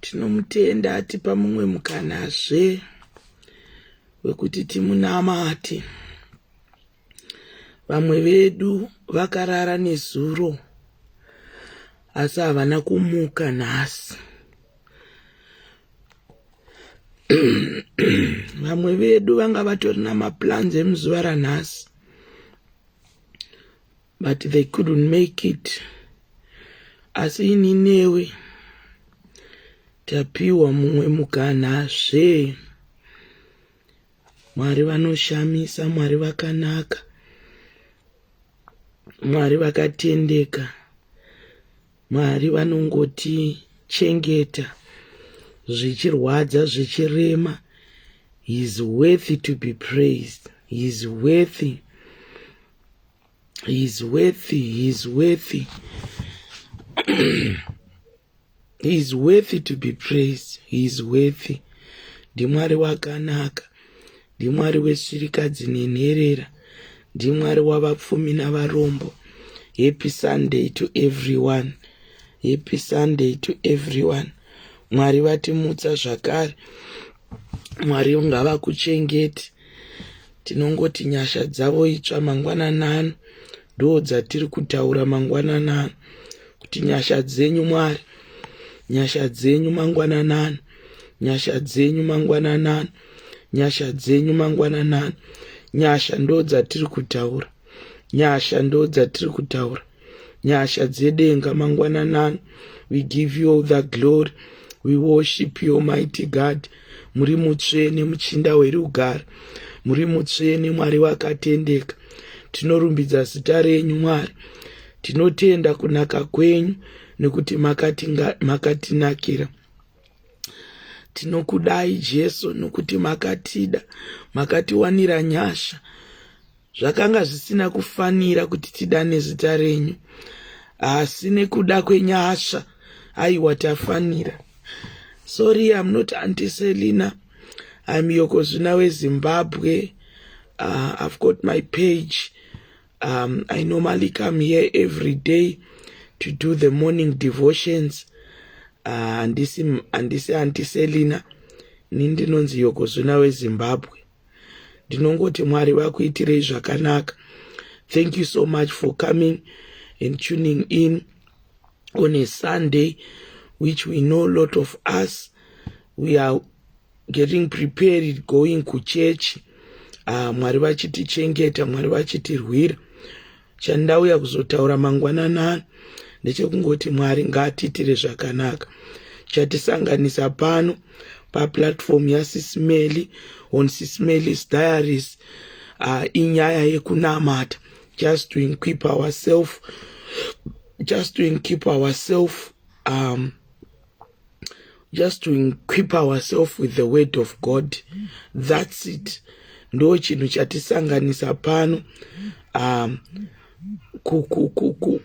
tinomutenda atipa mumwe mukanazve wekuti timunamate vamwe vedu vakarara nezuro asi havana kumuka nhasi vamwe vedu vanga vatori namaplans emuzuva ranhasi but they couldn't make it asi ini newe tapiwa mumwe mukana zve mwari vanoshamisa mwari vakanaka mwari vakatendeka mwari vanongotichengeta zvichirwadza zvichirema he is worthy to be praised he is worthy He's worthy, he's worthy. he's worthy to be praised. He's worthy. Ndimwari wakanaka. Ndimwari wesvirikadzi nenherera. Ndimwari wavapfumi navarombo. Happy Sunday to everyone. Happy Sunday to everyone. Mwari vatimutsa zvakare. mwari ngavakuchengeti tinongoti nyasha dzavo itsva mangwanani ano ndo dzatiri kutaura mangwanani ano kuti nyasha dzenyu mwari nyasha dzenyu mangwanani ano nyasha dzenyu mangwanani ano nyasha dzenyu mangwanani ano nyasha ndo dzatiri kutaura nyasha ndo dzatiri kutaura nyasha dzedenga mangwananani we give you all the glory we worship you mighty god muri mutsvene muchinda werugare muri mutsvene mwari wakatendeka tinorumbidza zita renyu mwari tinotenda kunaka kwenyu nekuti makatinakira tinokudai jesu nokuti makatida makatiwanira nyasha Zvakanga zvisina kufanira kuti tidane zita renyu, asi nekuda kwenyasha aiwa tafanira. Sorry, I'm not Auntie Selina. I'm Yokozvina weZimbabwe. Uh, I've got my page. Um, I normally come here every day to do the morning devotions. Uh, andisi, andisi Auntie Selina. Ni ndinonzi Yokozvina weZimbabwe. ndinongoti mwari vakuitirei zvakanaka thank you so much for coming and tuning in on a sunday which we know a lot of us we are getting prepared going kuchechi uh, ah, mwari vachitichengeta mwari vachitirwira Chandauya kuzotaura mangwanana ano ndechekungoti Mwari ngaatiitire zvakanaka. Chatisanganisa pano paplatform yaSismeli on Sismeli's Diaries uh, inyaya yekunamata just to equip ourselves just to equip ourselves um, just to equip ourselves with the word of god that's it ndo chinhu chatisanganisa pano um,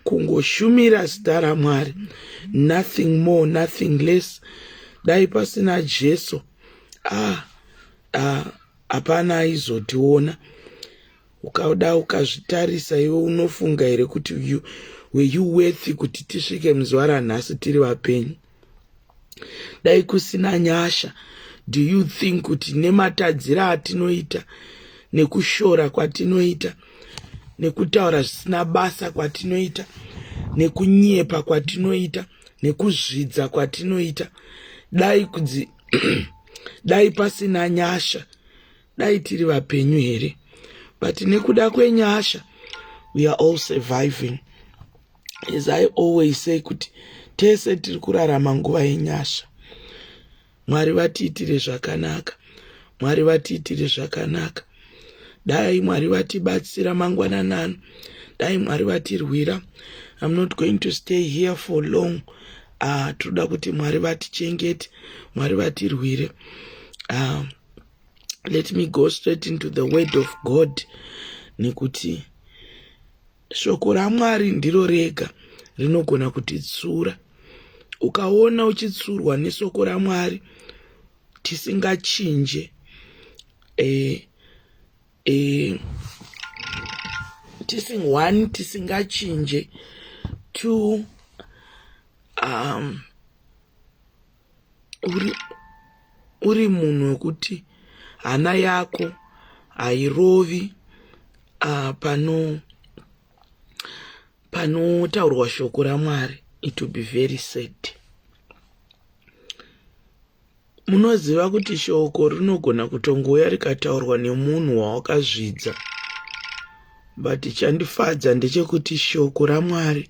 kungoshumira zita ramwari nothing more nothing less dai pasina jesu ah, ah, hapana aizotiona ukada ukazvitarisa iwe unofunga here kuti you were you worthy kuti tisvike muzuva ranhasi tiri vapenyu dai kusina nyasha do you think kuti nematadziro atinoita nekushora kwatinoita nekutaura zvisina basa kwatinoita nekunyepa kwatinoita nekuzvidza kwatinoita dai kudzi dai pasina nyasha dai tiri vapenyu here but nekuda kwenyasha we are all surviving as i always say kuti tese tiri kurarama nguva yenyasha mwari vatiitire zvakanaka mwari vatiitire zvakanaka dai mwari vatibatsira mangwananano dai mwari vatirwira i'm not going to stay here for long uh, tinoda kuti mwari vatichengete mwari vatirwire uh, let me go straight into the word of god nekuti shoko ramwari ndiro rega rinogona kutitsura ukaona uchitsurwa nesoko ramwari tisingachinje e, e, tising one tisingachinje two um, uri, uri munhu wekuti hana yako hairovi uh, pano panotaurwa shoko ramwari it will be very sad munoziva kuti shoko rinogona kutongouya rikataurwa nemunhu wawakazvidza but chandifadza ndechekuti shoko ramwari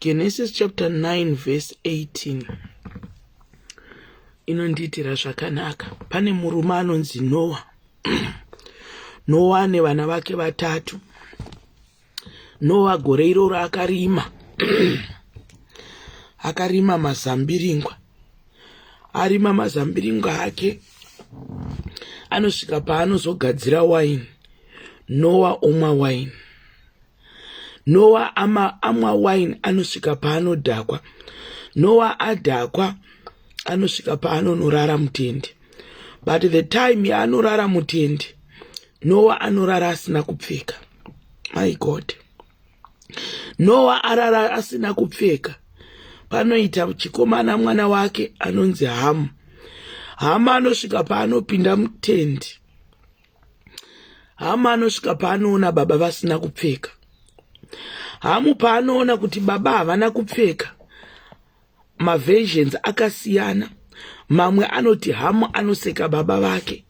Genesis chapter 9 verse 18 inondiitira zvakanaka. Pane murume anonzi Noa. Noa nevana vake vatatu. Noa gore iroro akarima akarima mazambiringwa. Arima mazambiringwa ake anosvika paanozogadzira waini. Noa omwa waini. nowa ama amwa wine anosvika paanodhakwa nowa adhakwa anosvika paanonorara mutendi but the time yaanorara mutendi nowa anorara asina kupfeka my god nowa arara asina kupfeka panoita chikomana mwana wake anonzi hamu hama anosvika paanopinda mutendi hamu anosvika paanoona baba vasina kupfeka hamu paanoona kuti baba havana kupfeka maversions akasiyana mamwe anoti hamu anoseka baba vake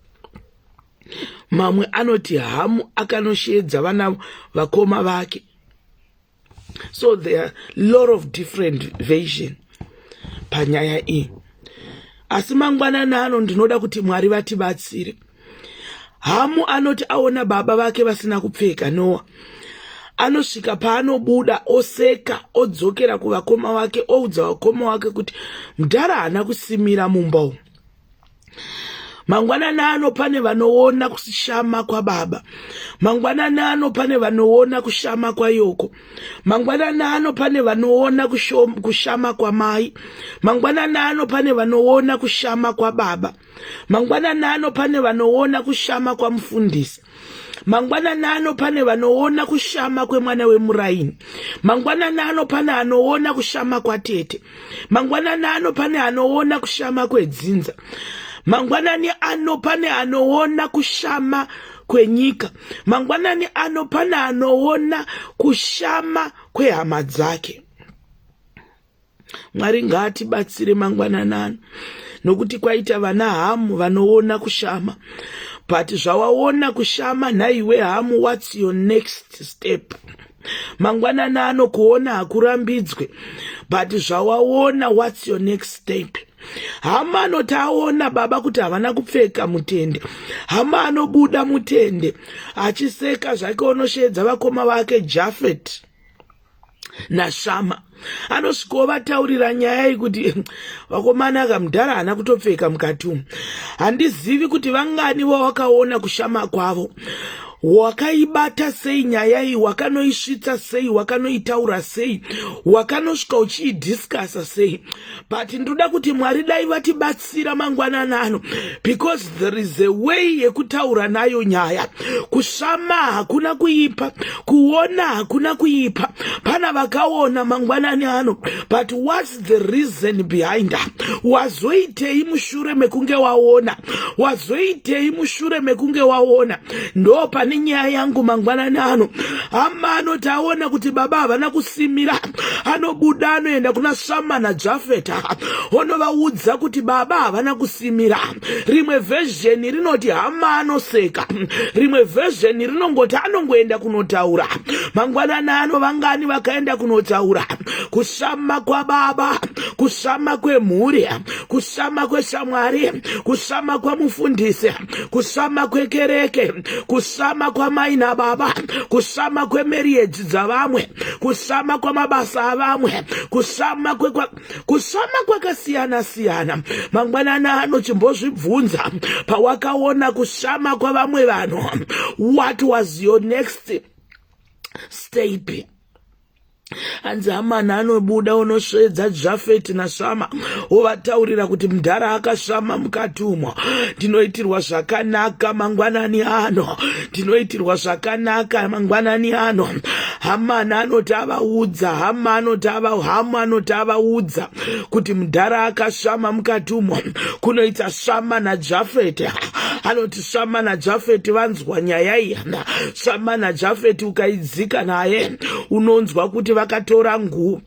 mamwe anoti hamu akanosheedza vana vakoma vake so there are lot of different version panyaya iyi asi mangwanana ano ndinoda kuti mwari vatibatsire hamu anoti aona baba vake vasina kupfeka noa anosvika paanobuda oseka odzokera kuvakoma wake oudza vakoma wake kuti mudhara haana kusimira mumba umu mangwanani ano pane vanoona kushama kwababa mangwanani ano pane vanoona kushama kwayoko mangwanani ano pane vanoona kushama kwamai mangwanani ano pane vanoona kushama kwababa mangwanani ano pane vanoona kushama kwamufundisi mangwanani ano pane vanoona kushama kwemwana wemuraini mangwanani ano pane anoona kushama kwatete mangwanani ano pane anoona kushama kwedzinza mangwanani ano pane anoona kushama kwenyika mangwanani ano pane anoona kushama kwehama dzake mwari ngaatibatsire mangwananani nokuti kwaita vana hamu vanoona kushama but zvawaona kushama nhaiwe hamu whats your next step mangwanana ano kuona hakurambidzwe but zvawaona whats your next step hama anoti aona baba kuti havana kupfeka mutende hama anobuda mutende achiseka zvake onosheedza vakoma vake jafet nashama anosvika ovataurira nyaya iyi kuti vakomana ka mudhara haana kutopfeka mukati umu handizivi kuti vangani vawakaona kushama kwavo wakaibata sei nyaya iyi wakanoisvitsa sei wakanoitaura sei wakanosvika uchiidiscasa sei but ndoda kuti mwari dai vatibatsi kubatsira mangwanana ano because there is a way yekutaura nayo nyaya kushama hakuna kuipa kuona hakuna kuipa pana vakaona mangwanani ano but whats the reason behind her wazoitei mushure mekunge waona wazoitei mushure mekunge waona ndo pane nyaya yangu mangwanani ano hama anoti aona kuti baba havana kusimira anobuda anoenda kuna shamana jafeta onovaudza kuti baba havana kusimira rimwe vhezheni rinoti hama anoseka rimwe vhezheni rinongoti anongoenda kunotaura mangwanani ano vangani vakaenda kunotaura kushama kwababa kushama kwemhuri kushama kweshamwari kushama kwamufundisi kusama kwekereke kusama kwamai nababa kusama kwemeriedzi dzavamwe kusama kwamabasa avamwe kusama kwekwa kusama kwakasiyana siyana mangwanani ano chimbozvibvunza pawakaona kusama kwavamwe vanhu what was your next step hanzi amana anobuda unosvedza jafeti nasvama wovataurira kuti mudhara akasvama mukati umo ndinoitirwa zvakanaka mangwanani ano ndinoitirwa zvakanaka mangwanani ano hamana anoti avaudza hama anoti hamu anoti avaudza kuti mudhara akasvama mukati umo kunoita svama najafeti anoti shama najafeti vanzwa nyaya iyi shama najafeti ukaidzika naye unonzwa kuti vakatora nguu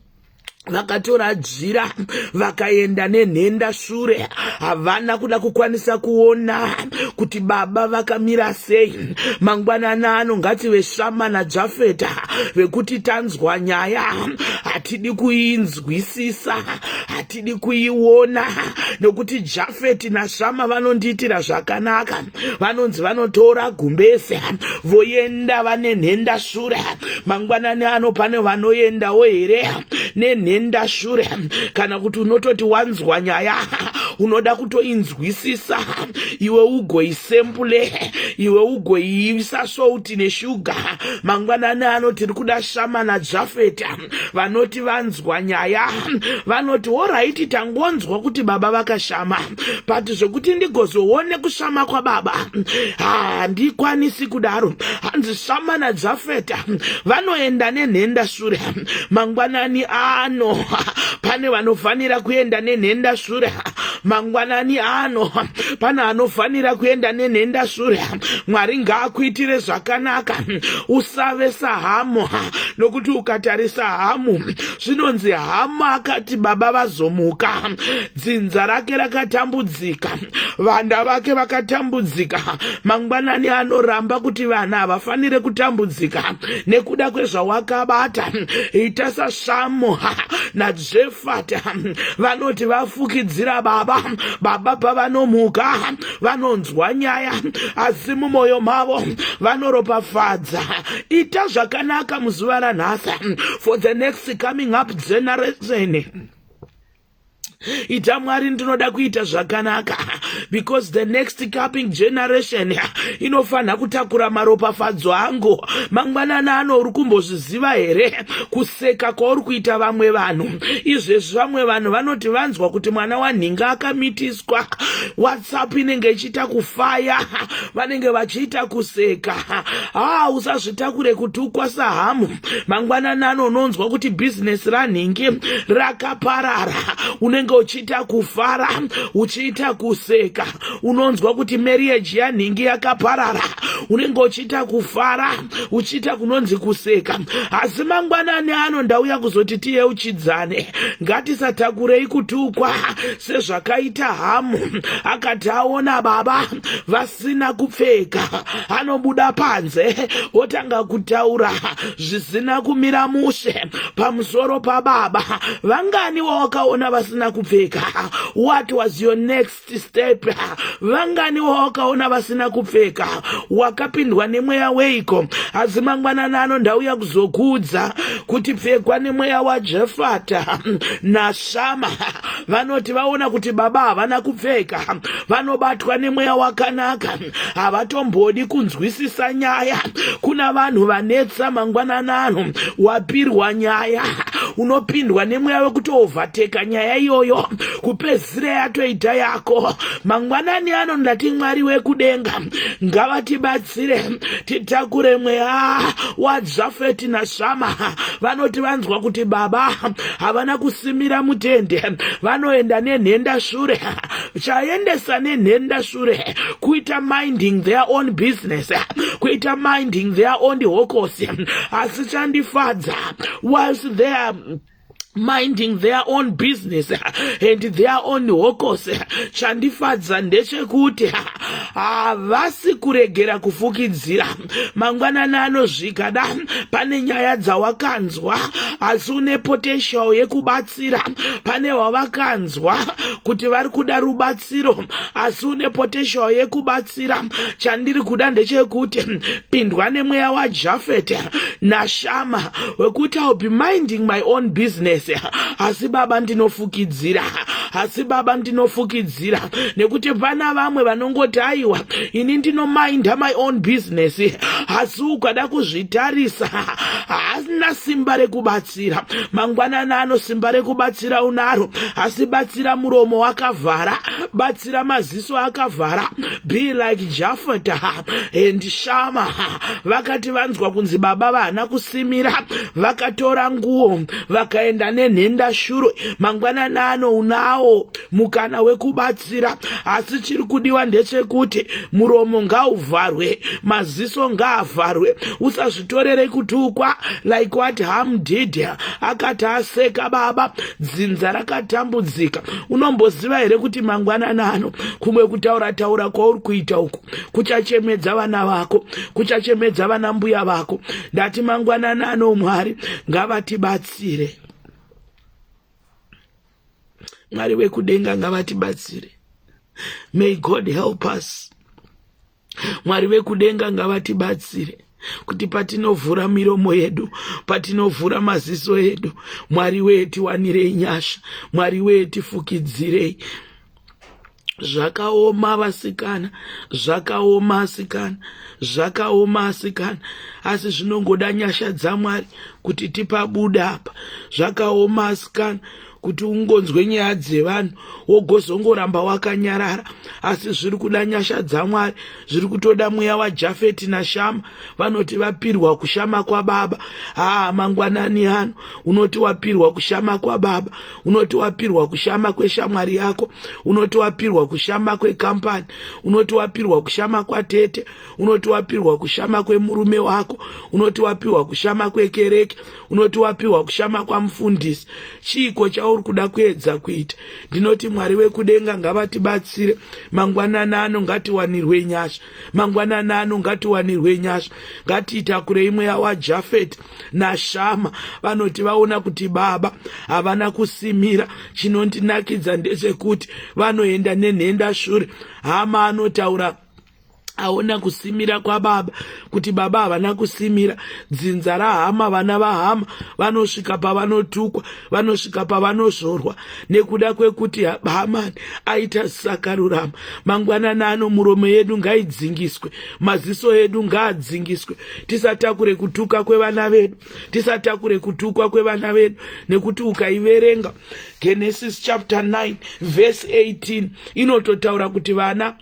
vakatora jira vakaenda nenhenda shure havana kuda kukwanisa kuona kuti baba vakamira sei mangwanana ano ngative shama najafeta vekuti tanzwa nyaya hatidi kuinzwisisa tidi kuiona nokuti jafeti nashama vanondiitira zvakanaka vanonzi vanotora gumbeze voenda vane nhenda shure mangwanani ano pane vanoendawo here nenhenda shure kana kuti unototi wanzwa nyaya unoda kutoinzwisisa iwe ugoisempule iwe ugoiisa souti neshuga mangwanani ano tiri kuda shama najafeti vanoti vanzwa nyaya vanoti horaiti tangonzwa kuti baba vakashama but zvekuti ndigozoone kushama kwababa handikwanisi kudaro hanzi shama nadzafeta vanoenda nenhenda shure mangwanani ano pane vanofanira kuenda nenhenda shure mangwanani ano pane anofanira kuenda nenhenda shure mwari ngaakuitire zvakanaka usave sahamu nokuti ukatarisa hamu zvinonzi hamu akati baba vazomuka dzinza rake rakatambudzika vanda vake vakatambudzika mangwanani anoramba kuti vana havafanire kutambudzika nekuda kwezvawakabata ita sashamu Jefata vanoti vafukidzira baba baba pavanomuka vanonzwa nyaya asi mumwoyo mavo vanoropafadza ita zvakanaka muzuva ranhasi for the next coming up generation ita mwari ndinoda kuita zvakanaka because the next coming generation inofanira kutakura maropafadzo angu mangwanana ano uri kumbozviziva here kuseka kwauri kuita vamwe vanhu izvezvi vamwe vanhu vanoti vanzwa kuti mwana wanhinga akamitiswa whatsapp inenge ichiita kufaya vanenge vachiita kuseka haa ah, usazvitakure kuti ukwasa hamu mangwanani ano unonzwa kuti bhizinesi ranhingi rakaparara unenge uchiita kufara uchiita kuseka unonzwa kuti marriage yanhingi yakaparara unenge uchiita kufara uchiita kunonzi kuseka asi mangwanani ano ndauya kuzoti tiyeuchidzane ngatisatakurei kutukwa sezvakaita hamu akati aona baba vas asina kupfeka anobuda panze otanga kutaura zvisina kumira mushe pamusoro pababa vangani wawakaona vasina kupfeka what was your next step vangani wawakaona vasina kupfeka wakapindwa nemweya weiko asi mangwanana ano ndauya kuzokuudza kuti pfekwa nemweya wajefata nashama vanoti vaona kuti baba havana kupfeka vanobatwa nemweya wakanaka havatombodi kunzwisisa nyaya kuna vanhu vanetsa mangwanana ano wapirwa nyaya unopindwa nemweya wekutoovhateka nyaya iyoyo kupedzisira yatoita yako mangwanani ano ndati mwari wekudenga ngavatibatsira tibatsire titakure mweya wadzafeti nashama vanoti vanzwa kuti baba havana kusimira mutende vanoenda nenhenda shure chaendesa nenhenda shure kuita minding their own business kuita minding their own hokosi asi chandifadza whilst there minding their own business and their own hokos chandifadza ndechekuti havasi kuregera kufukidzira mangwanani anozvika da pane nyaya dzawakanzwa asi une potential yekubatsira pane wavakanzwa kuti vari kuda rubatsiro rubatsiro asi une potential yekubatsira chandiri kuda ndechekuti pindwa nemweya wajafet nashama wekuti ill be minding my own business asi baba ndinofukidzira asi baba ndinofukidzira nekuti pana vamwe vanongoti aiwa ini ndinominda my own business asi ukada kuzvitarisa haasina simba rekubatsira kubatsira mangwanani ano simba rekubatsira unaro asi batsira muromo wakavhara batsira maziso akavhara be like jafata and shama vakati vanzwa kunzi baba vahana kusimira vakatora nguo vakaenda nenhenda shuro mangwanani ano unawo mukana wekubatsira kubatsira asi chiri kudiwa ndechekuti muromo ngauvharwe maziso ngaavharwe usazvitorere kutukwa like what ham did akati aseka baba dzinza rakatambudzika unomboziva here kuti mangwanana ano kumwe kutaura taura kwauri kuita uku kuchachemedza vana vako kuchachemedza vana mbuya vako ndati mangwanana ano mwari ngavatibatsire mwari vekudenga ngavatibatsire may god help us mwari vekudenga ngavatibatsire kuti patinovhura miromo yedu patinovhura maziso edu mwari wee tiwanirei nyasha mwari wee tifukidzirei zvakaoma vasikana zvakaoma asikana zvakaoma asikana asi zvinongoda nyasha dzamwari kuti tipabuda apa zvakaoma asikana kuti ungonzwe nyaya dzevanhu wogozongoramba wakanyarara asi zviri kuda nyasha dzamwari zviri kutoda mweya wajafeti nashama vanoti vapirwa kushama kwababa haa mangwanani ano unoti wapirwa kushama kwababa unoti wapirwa kushama kweshamwari yako unoti wapirwa kushama kwekampani unoti wapirwa kushama kwatete unoti wapirwa kushama kwemurume wako unoti wapirwa kushama kwekereke unoti wapirwa kushama kwamufundisi chiiko chauri kuda kuedza kuita ndinoti mwari wekudenga ngavatibatsire mangwanana ano ngatiwanirwe nyasha mangwanana ano ngatiwanirwe nyasha ngatiitakurei mweya wajafeti nashama vanoti vaona kuti baba havana kusimira chinondinakidza ndechekuti vanoenda nenhenda shure hama anotaura aona kusimira kwababa kuti baba havana kusimira dzinza rahama vana vahama vanosvika pavanotukwa vanosvika pavanozvorwa nekuda kwekuti hamani aita sakarurama mangwanana ano muromo yedu ngaidzingiswe maziso edu ngaadzingiswe tisatakure kutuka kwevana vedu tisatakure kutukwa kwevana vedu nekuti ukaiverenga genesis chapter 9 verse 18 inototaura kuti vana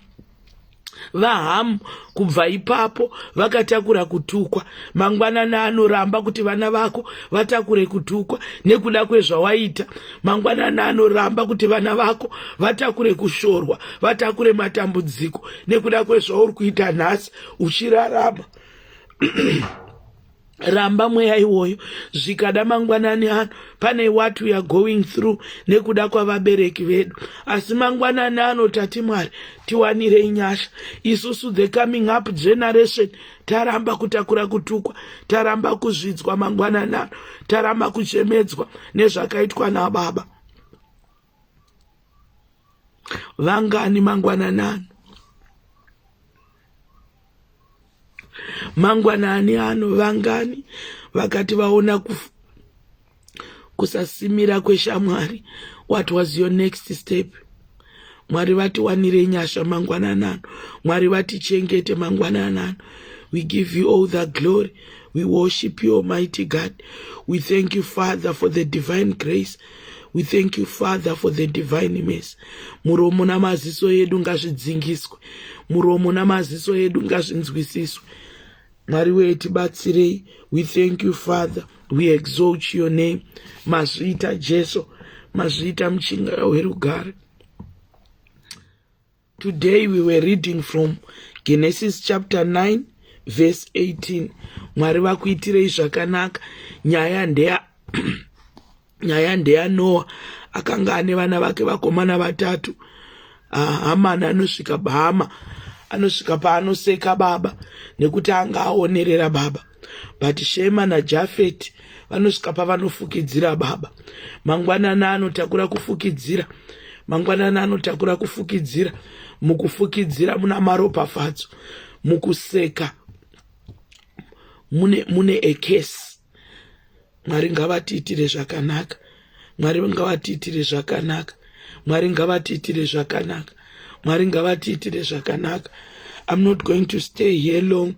vahamu kubva ipapo vakatakura kutukwa mangwanani anoramba kuti vana vako vatakure kutukwa nekuda kwezvawaita mangwanani anoramba kuti vana vako vatakure kushorwa vatakure matambudziko nekuda kwezvauri kuita nhasi uchirarama ramba mweya iwoyo zvikada mangwanani ano pane what weare going through nekuda kwavabereki vedu asi mangwanani ano tati mwari tiwanirei nyasha isusu the coming up generation taramba kutakura kutukwa taramba kuzvidzwa mangwanani ano taramba kuchemedzwa nezvakaitwa nababa vangani mangwananani mangwanani ano vangani vakati vaona kuf, kusasimira kweshamwari what was your next step mwari vatiwanire nyasha mangwanani ano mwari vatichengete mangwanani ano we give you all the glory we worship you almighty god we thank you father for the divine grace we thank you father for the divine mess muromo namaziso edu ngazvidzingiswe muromo namaziso edu ngazvinzwisiswe mwari wee tibatsirei we thank you father we exalt your name mazviita jesu mazviita muchinga werugare Today we were reading from Genesis chapter 9 verse 18. Mwari vakuitirei zvakanaka. Nyaya ndeya nyaya ndeya Noah akanga ane vana vake vakomana vatatu. Ah, Hamana anosvika bahama anosvika paanoseka baba nekuti anga aonerera baba. but shema najafet vanosvika pavanofukidzira baba mangwanana anotakura kufukidzira mangwanana anotakura kufukidzira mukufukidzira muna maropafadzo mukuseka mune, mune ekesi mwari ngavatiitire zvakanaka mwari ngavatiitire zvakanaka mwari ngavatiitire zvakanaka mwari ngavatiitire zvakanaka i'm not going to stay here long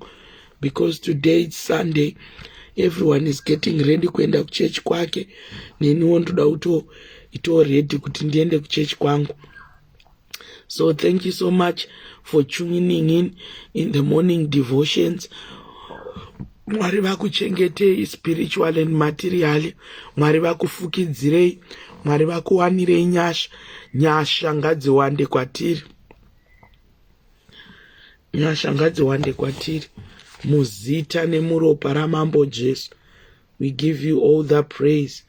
because today it's sunday everyone is getting ready kuenda kuchechi kwake neniwo ndoda kuto itoready kuti ndiende kuchechi kwangu so thank you so much for tuning in in the morning devotions mwari vakuchengetei spiritual and materially mwari vakufukidzirei mwari vakuwanirei nyasha nyasha ngadziwande kwatiri nyasha ngadziwande kwatiri muzita nemuropa ramambo jesu We give you all the praise.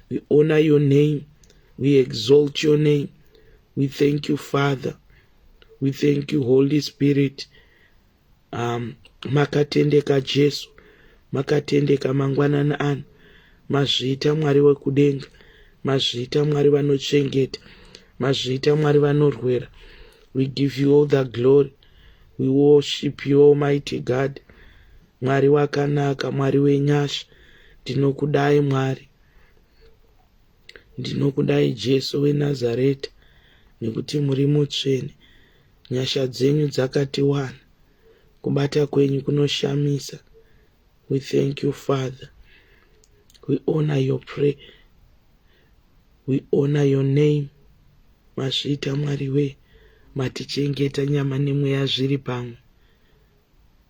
We honor your name. We exalt your name. We thank you, Father. We thank you, Holy Spirit. Um, makatendeka Jesu, makatendeka mangwanani ano. Mazviita Mwari wekudenga, mazviita Mwari vanochengeta, mazviita Mwari vanorwera. We give you all the glory. We worship you, Almighty God. Mwari wakanaka, Mwari wenyasha, ndinokudai Mwari, ndinokudai Jesu weNazareta, nekuti muri mutsvene. Nyasha dzenyu dzakati wana, kubata kwenyu kunoshamisa. We thank you Father, we honor your prayer, we honor your name. Masvita Mwari wee, matichengeta nyama nemweya zviri pamwe.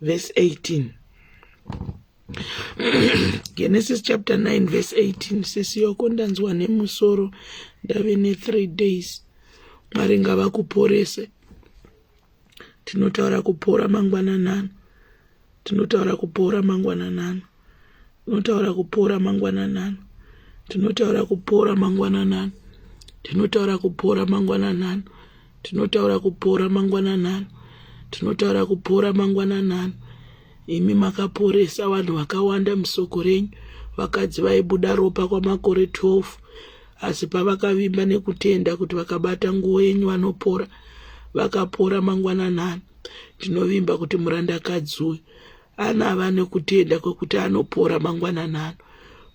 verse 18 genesis chapter 9 verse 18 sisi yoko ndanzwa nemusoro ndave ne-three days mwari ngavakuporese tinotaura kupora mangwananano tinotaura kupora mangwananano tinotaura kupora mangwananani tinotaura kupora mangwananani tinotaura kupora mangwananani tinotaura kupora mangwananani tinotaura kupora mangwananani imi makaporesa vanhu vakawanda musoko renyu vakadzi vaibuda ropa kwamakore 12 asi pavakavimba nekutenda kuti vakabata nguo yenyu vanopora vakapora mangwananani tinovimba kuti murandakadzi uyu anava nekutenda kwekuti anopora mangwanani ano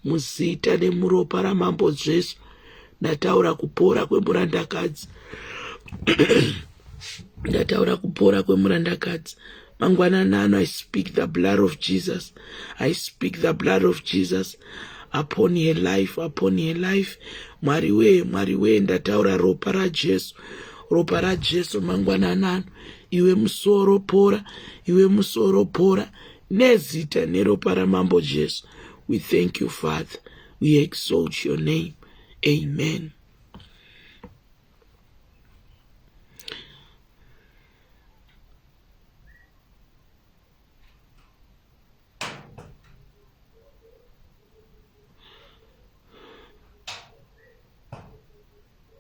muzita nemuropa ramambo jesu ndataura kupora kwemurandakadzi ndataura kupora kwemurandakadzi mangwanani ano i speak the blood of jesus i speak the blood of jesus upon her life upon her life mwari wee mwari wee ndataura ropa rajesu ropa rajesu mangwanani ano iwe musoro pora iwe musoro pora nezita neropa ramambo jesu we thank you father we exalt your name amen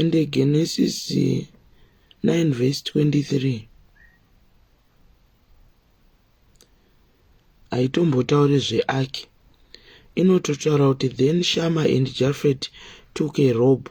ende genesis 9 vhesi 23 haitombotaure zveaki inototaura kuti then shama and jafet took a robe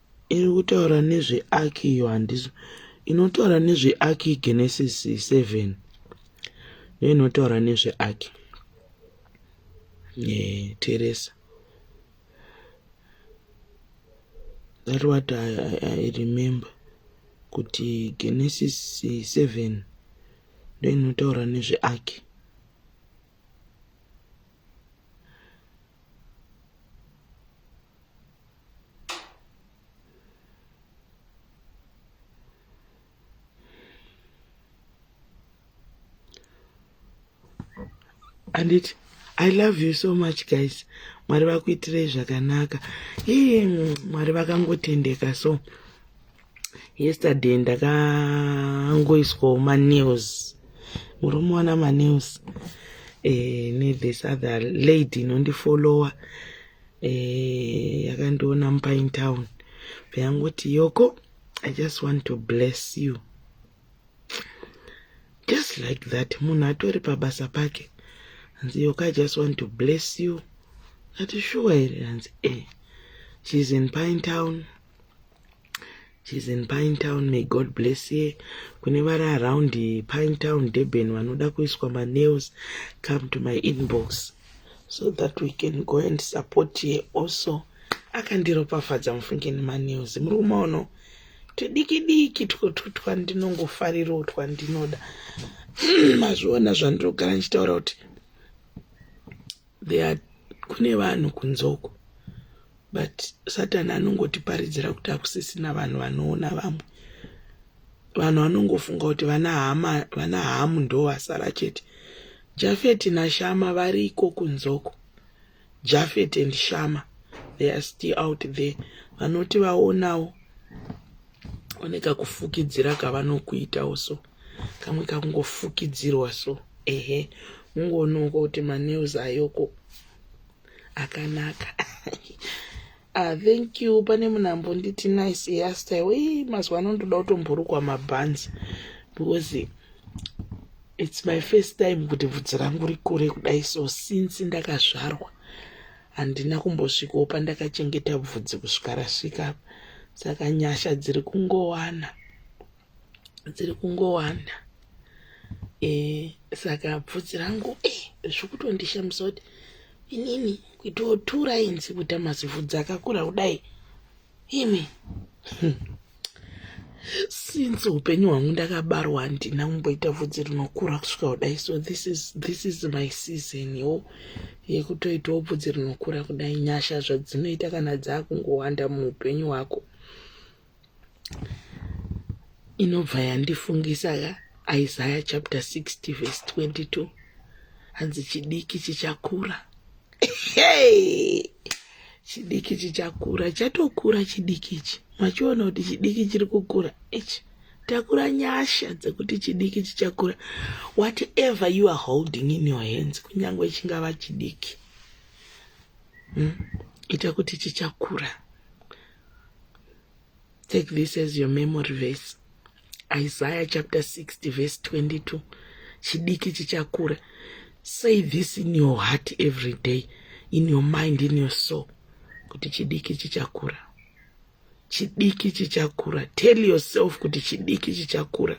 Iri kutaura nezveaki iyo handizo. Inotaura nezveaki Genesis 7. Ndiyo inotaura nezveaki. Yeah, Teresa. That what I, I, I remember kuti Genesis 7 ndiyo inotaura nezveaki. anditi i love you so much guys mwari vakuitirei zvakanaka iye mwari vakangotendeka so yesterday ndakangoiswawo manews muri muona manews e, eh, nethis other lady inondifollowa eh yakandiona mupain town peyangoti yoko i just want to bless you just like that munhu atori pabasa pake hanzi yoko i just want to bless you ati shuwa here hanzi e eh. she's in pine town She's in Pine Town. May God bless you. Kune vari around Pine Town, Durban vanoda kuiswa ma nails, come to my inbox so that we can go and support here also. Akandiropafadza mufunge nema nails. Muri kumaono tudiki diki two twandinongofarirawo twandinoda. Mazviona zvandinogara ndichitaura kuti They are kune vanhu kunzoko but satani anongotiparidzira kuti akusisina vanhu vanoona vamwe vanhu vanongofunga kuti vana hama vana hamu ndo vasara chete jafeti nashama vari iko kunzoko jafeti and shama they are still out there vanoti vaonawo oneka kufukidzira kavanokuitawo so kamwe kakungofukidzirwa so ehe ungoonongo kuti manews ayoko akanaka ah, thank you pane munhu ambonditi nice hairstyle i mazuva ano ndoda kutomborukwa mabhanzi because it's my first time kuti bvudzi rangu rikure kudai so since ndakazvarwa handina kumbosvikawo pandakachengeta bvudzi kusvika rasvika saka nyasha dziri kungowana dziri kungowanda eh, saka bvudzi rangu eh, zviri kutondishamisa kuti inini kuitawo two lines kuita mazivhudzi akakura kudai imi since upenyu hwangu ndakabarwa handina kumboita vhudzi rinokura kusvika kudai so this is, this is my season yo yekutoitawo bvudzi rinokura kudai nyasha zvadzinoita kana dzaakungowanda muupenyu hwako inobva yandifungisa ka isaya chapter 60 verse 22 hanzi chidiki chichakura hey! chidiki chichakura chatokura chidiki ichi machiona kuti chidiki chiri kukura ichi takura nyasha dzekuti chidiki chichakura whatever you are holding in your hands kunyange chingava chidiki hmm? ita kuti chichakura Take this as your memory verse. Isaiah chapter 60 verse 22. Chidiki chichakura. Say this in your heart every day, in your mind, in your soul. Kuti chidiki chichakura. Chidiki chichakura. Tell yourself kuti chidiki chichakura.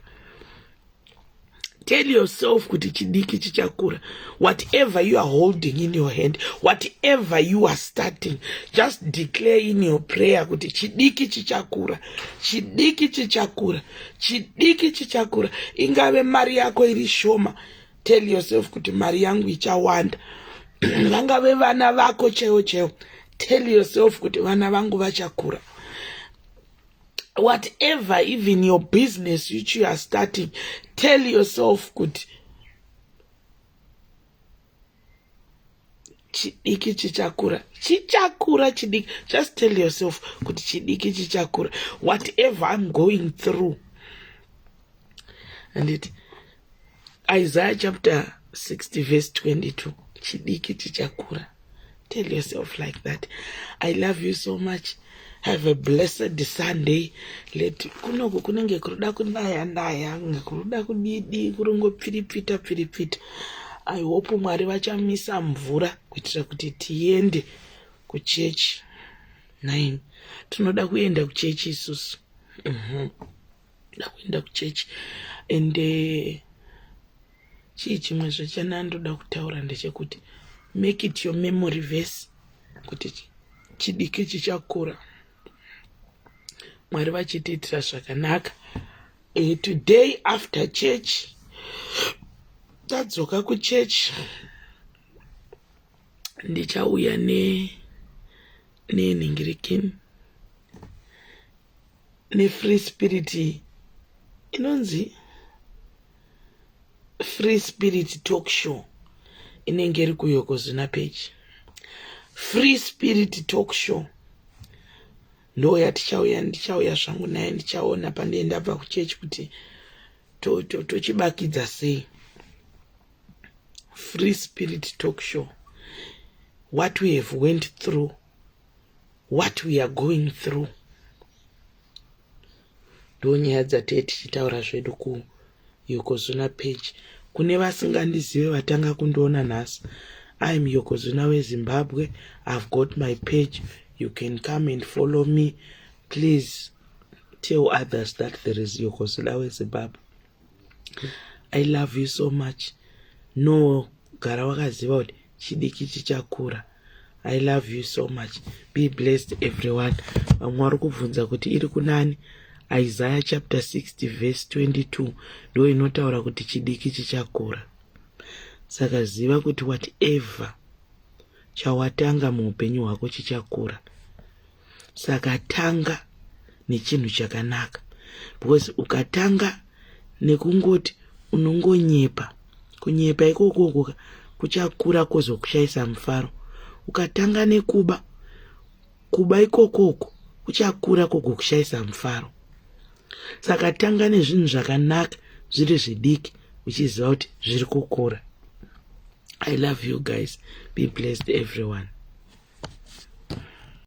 Tell yourself kuti chidiki chichakura. Whatever you are holding in your hand, whatever you are starting, just declare in your prayer kuti chidiki chichakura, chidiki chichakura, chidiki chichakura. Ingave mari yako iri shoma, tell yourself kuti mari yangu ichawanda. Vangave vana vako cheo cheo, tell yourself kuti vana vangu vachakura. whatever even your business which you are starting tell yourself kuti chidiki chichakura chichakura chidiki just tell yourself kuti chidiki chichakura whatever i'm going through anditi Isaiah chapter 60 verse 22 chidiki tichakura tell yourself like that i love you so much have a blessed sunday let kunoku kunenge kuruda kunaya naya kuruda kudidi kurungopfiripfita pfiripfita i hope mwari vachamisa mvura kuitira kuti tiende kuchechi nine tinoda kuenda kuchechi isusu mm -hmm. ndoda kuenda kuchechi and eh, chii chimwe zvechana ndoda kutaura ndechekuti make it your memory verse kuti chidiki chichakura mwari vachitiitira zvakanaka eh, today after church tadzoka kuchurch ndichauya ne nenhingirikini nefree spirit iyi inonzi free spirit talk show inenge iri kuyokozvina peji free spirit talk show ndo yatichauya ndichauya zvangu naye ndichaona pandee ndabva kuchechi kuti tochibakidza to, to sei free spirit talk show what we have went through what we are going through ndo nyaya dzatee tichitaura zvedu kuyokozuna page kune vasingandizive vatanga kundiona nhasi im yokozuna wezimbabwe ihave got my page you can come and follow me please tell others that there is yokozuna wezimbabwe i love you so much no gara wakaziva kuti chidiki chichakura i love you so much be blessed everyone vamwe vari kubvunza kuti iri kunani isaya chapter 60 verse 22 ndo inotaura kuti chidiki chichakura saka ziva kuti whatever chawatanga muupenyu hwako chichakura saka tanga nechinhu chakanaka because ukatanga nekungoti unongonyepa kunyepa ikokoko kuchakura kwozokushaisa mufaro ukatanga nekuba kuba ikokoko kuchakura kwogokushaisa mufaro saka tanga nezvinhu zvakanaka zviri zvidiki uchiziva kuti zviri kukura i love you guys be blessed everyone